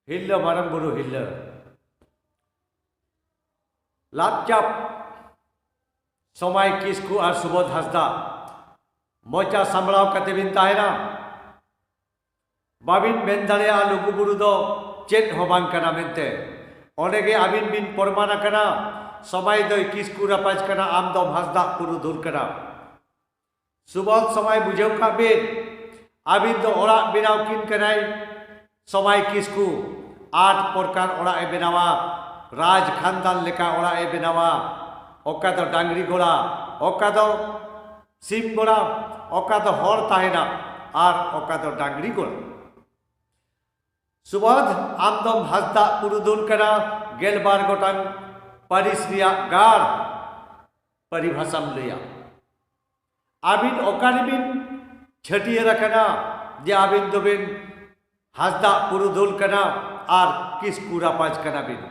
ᱦᱤᱨᱞᱟᱹ ᱢᱟᱨᱟᱝ ᱵᱩᱨᱩ ᱦᱤᱨᱞᱟᱹ ᱞᱟᱯᱪᱟᱯ ᱥᱚᱢᱟᱭ ᱠᱤᱥᱠᱩ ᱟᱨ ᱥᱩᱵᱳᱫ ᱦᱟᱸᱥᱫᱟ ᱢᱚᱪᱟ ᱥᱟᱢᱵᱲᱟᱣ ᱠᱟᱛᱮ ᱵᱤᱱ ᱛᱟᱦᱮᱱᱟ ᱵᱟᱵᱤᱱ ᱢᱮᱱ ᱫᱟᱲᱮᱭᱟᱜᱼᱟ ᱞᱩᱜᱩ ᱵᱩᱨᱩ ᱫᱚ ᱪᱮᱫ ᱦᱚᱸ ᱵᱟᱝ ᱠᱟᱱᱟ ᱢᱮᱱᱛᱮ ᱚᱸᱰᱮ ᱜᱮ ᱟᱹᱵᱤᱱ ᱵᱤᱱ ᱯᱨᱚᱢᱟᱱ ᱟᱠᱟᱱᱟ ᱥᱚᱢᱟᱭ ᱫᱚᱭ ᱠᱤᱥᱠᱩ ᱨᱟᱯᱟᱡᱽ ᱠᱟᱱᱟ ᱟᱢ ᱫᱚᱢ ᱦᱟᱸᱥᱫᱟ ᱯᱩᱨᱩᱫᱷᱩᱞ ᱠᱟᱱᱟ ᱥᱩᱵᱚᱫᱷ ᱥᱚᱢᱟᱭ ᱵᱩᱡᱷᱟᱹᱣ ᱠᱟᱜ ᱵᱤᱱ ᱟᱹᱵᱤᱱ ᱫᱚ ᱚᱲᱟᱜ ᱵᱮᱱᱟᱣ ᱠᱤᱱ ᱠᱟᱱᱟᱭ ᱥᱚᱢᱟᱭ ᱠᱤᱥᱠᱩ ᱟᱴ ᱯᱨᱚᱠᱟᱨ ᱚᱲᱟᱜ ᱮ ᱵᱮᱱᱟᱣᱟ ᱨᱟᱡᱽ ᱠᱷᱟᱱᱫᱟᱱ ᱞᱮᱠᱟ ᱚᱲᱟᱜ ᱮ ᱵᱮᱱᱟᱣᱟ ᱚᱠᱟ ᱫᱚ ᱰᱟᱝᱨᱤ ᱜᱚᱲᱟ ᱚᱠᱟ ᱫᱚ ᱥᱤᱢ ᱜᱚᱲᱟ ᱚᱠᱟ ᱫᱚ ᱦᱚᱲ ᱛᱟᱦᱮᱱᱟ ᱟᱨ ᱚᱠᱟ ᱫᱚ ᱰᱟᱝᱨᱤ ᱜᱚᱲᱟ ᱥᱩᱵᱚᱫᱷ ᱟᱢ ᱫᱚᱢ ᱦᱟᱸᱥᱫᱟ ᱯᱩᱨᱩᱫᱷᱩᱞ ᱠᱟᱱᱟ ᱜᱮᱞᱵᱟᱨ ᱜᱚᱴᱟᱝ ᱯᱟᱹᱨᱤᱥ ᱨᱮᱭᱟᱜ ᱜᱟᱲ ᱯᱟᱨᱤᱵᱷᱟᱥᱟᱢ ᱞᱟᱹᱭᱟ ᱟᱹᱵᱤᱱ ᱚᱠᱟᱨᱮᱵᱤᱱ ᱪᱷᱟᱹᱴᱭᱟᱹᱨ ᱟᱠᱟᱱᱟ ᱡᱮ ᱟᱹᱵᱤᱱ ᱫᱚᱵᱤᱱ ᱦᱟᱸᱥᱫᱟ ᱯᱩᱨᱩᱫᱷᱩᱞ ᱠᱟᱱᱟ ᱟᱨ ᱠᱤᱥᱠᱩ ᱨᱟᱯᱟᱡᱽ ᱠᱟᱱᱟ ᱵᱤᱱ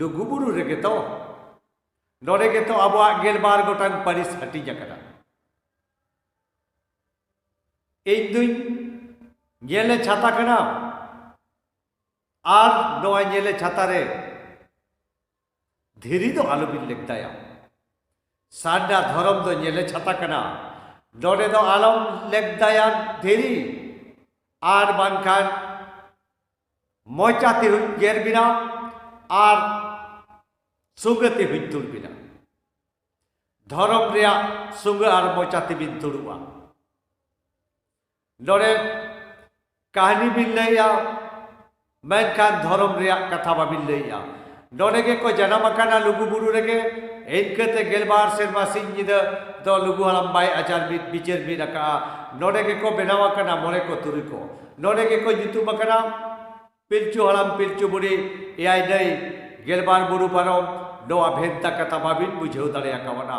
ᱞᱩᱜᱩᱵᱩᱨᱩ ᱨᱮᱜᱮ ᱛᱚ ᱱᱚᱰᱮ ᱜᱮᱛᱚ ᱟᱵᱚᱣᱟᱜ ᱜᱮᱞᱵᱟᱨ ᱜᱚᱴᱟᱝ ᱯᱟᱹᱨᱤᱥ ᱦᱟᱹᱴᱤᱧ ᱟᱠᱟᱱᱟ ᱤᱧ ᱫᱩᱧ ᱧᱮᱞᱮ ᱪᱷᱟᱛᱟ ᱠᱟᱱᱟ ᱟᱨ ᱱᱚᱣᱟ ᱧᱮᱞᱮ ᱪᱷᱟᱛᱟ ᱨᱮ ᱫᱷᱤᱨᱤ ᱫᱚ ᱟᱞᱚᱵᱤᱱ ᱞᱮᱠᱛᱟᱭᱟ ᱥᱟᱨᱱᱟ ᱫᱷᱚᱨᱚᱢ ᱫᱚ ᱧᱮᱞᱮ ᱪᱷᱟᱛᱟ ᱠᱟᱱᱟ ᱱᱚᱰᱮ ᱫᱚ ᱟᱞᱚᱢ ᱞᱮᱠᱛᱟᱭᱟ ᱫᱷᱤᱨᱤ ᱟᱨ ᱵᱟᱝᱠᱷᱟᱱ ᱢᱚᱪᱟ ᱛᱮ ᱦᱩᱧ ᱜᱮᱨ ᱵᱤᱱᱟ ᱟᱨ ᱥᱩᱜᱟᱹ ᱛᱮ ᱦᱩᱧ ᱛᱩᱞ ᱵᱤᱱᱟ ᱫᱷᱚᱨᱚᱢ ᱨᱮᱭᱟᱜ ᱥᱩᱜᱟᱹ ᱟᱨ ᱢᱚᱪᱟ ᱛᱮᱵᱤᱱ ᱛᱩᱲᱩᱜᱼᱟ ᱱᱚᱰᱮ ᱠᱟᱹᱦᱱᱤ ᱵᱤᱱ ᱞᱟᱹᱭᱟ ᱢᱮᱱᱠᱷᱟᱱ ᱫᱷᱚᱨᱚᱢ ᱨᱮᱭᱟᱜ ᱠᱟᱛᱷᱟ ᱵᱟᱵᱤᱱ ᱞᱟᱹᱭᱟ ᱱᱚᱰᱮ ᱜᱮᱠᱚ ᱡᱟᱱᱟᱢ ᱟᱠᱟᱱᱟ ᱞᱩᱜᱩ ᱵᱩᱨᱩ ᱨᱮᱜᱮ ᱤᱱᱠᱟᱹᱛᱮ ᱜᱮᱞᱵᱟᱨ ᱥᱮᱨᱢᱟ ᱥᱤᱧ ᱧᱤᱫᱟᱹ ᱫᱚ ᱞᱩᱜᱩ ᱦᱟᱲᱟᱢ ᱵᱟᱭ ᱟᱪᱟᱨ ᱢᱤᱫ ᱵᱤᱪᱟᱹᱨ ᱢᱤᱫ ᱟᱠᱟᱜᱼᱟ ᱱᱚᱰᱮ ᱜᱮᱠᱚ ᱵᱮᱱᱟᱣ ᱟᱠᱟᱱᱟ ᱢᱚᱬᱮ ᱠᱚ ᱛᱩᱨᱩᱭ ᱠᱚ ᱱᱚᱰᱮ ᱜᱮᱠᱚ ᱧᱩᱛᱩᱢ ᱟᱠᱟᱱᱟ ᱯᱤᱞᱪᱩ ᱦᱟᱲᱟᱢ ᱯᱤᱞᱪᱩ ᱵᱩᱲᱦᱤ ᱮᱭᱟᱭ ᱱᱟᱹᱭ ᱜᱮᱞᱵᱟᱨ ᱵᱩᱨᱩ ᱯᱟᱨᱚᱢ ᱱᱚᱣᱟ ᱵᱷᱮᱱᱛᱟ ᱠᱟᱛᱷᱟ ᱵᱟᱵᱤᱱ ᱵᱩᱡᱷᱟᱹᱣ ᱫᱟᱲᱮᱭᱟᱠᱟᱣᱱᱟ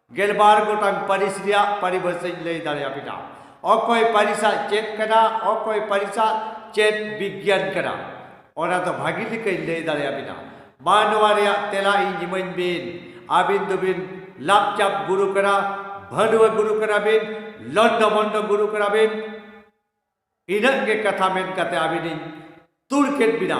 ᱜᱮᱞᱵᱟᱨ ᱜᱚᱴᱟᱝ ᱯᱟᱹᱨᱤᱥ ᱨᱮᱭᱟᱜ ᱯᱟᱹᱨᱤᱵᱷᱟᱹᱥᱟᱹᱧ ᱞᱟᱹᱭ ᱫᱟᱲᱮᱭᱟᱵᱤᱱᱟ ᱚᱠᱚᱭ ᱯᱟᱹᱨᱤᱥᱟᱜ ᱪᱮᱫ ᱠᱟᱱᱟ ᱚᱠᱚᱭ ᱯᱟᱹᱨᱤᱥᱟᱜ ᱪᱮᱫ ᱵᱤᱜᱽᱜᱟᱱ ᱠᱟᱱᱟ ᱚᱱᱟ ᱫᱚ ᱵᱷᱟᱹᱜᱤ ᱞᱮᱠᱟᱧ ᱞᱟᱹᱭ ᱫᱟᱲᱮᱭᱟᱵᱤᱱᱟ ᱢᱟ ᱱᱚᱣᱟ ᱨᱮᱭᱟᱜ ᱛᱮᱞᱟ ᱤᱧ ᱤᱢᱟᱹᱧ ᱵᱤᱱ ᱟᱹᱵᱤᱱ ᱫᱚᱵᱤᱱ ᱞᱟᱯᱪᱟᱯ ᱜᱩᱨᱩ ᱠᱟᱱᱟ ᱵᱷᱟᱹᱰᱩᱣᱟᱹ ᱜᱩᱨᱩ ᱠᱟᱱᱟ ᱵᱤᱱ ᱞᱚᱱᱰᱚ ᱵᱚᱱᱰᱚ ᱜᱩᱨᱩ ᱠᱟᱱᱟ ᱵᱤᱱ ᱤᱱᱟᱹᱜ ᱜᱮ ᱠᱟᱛᱷᱟ ᱢᱮᱱ ᱠᱟᱛᱮ ᱟᱹᱵᱤᱱᱤᱧ ᱛᱩᱲ ᱠᱮᱫ ᱵᱤᱱᱟ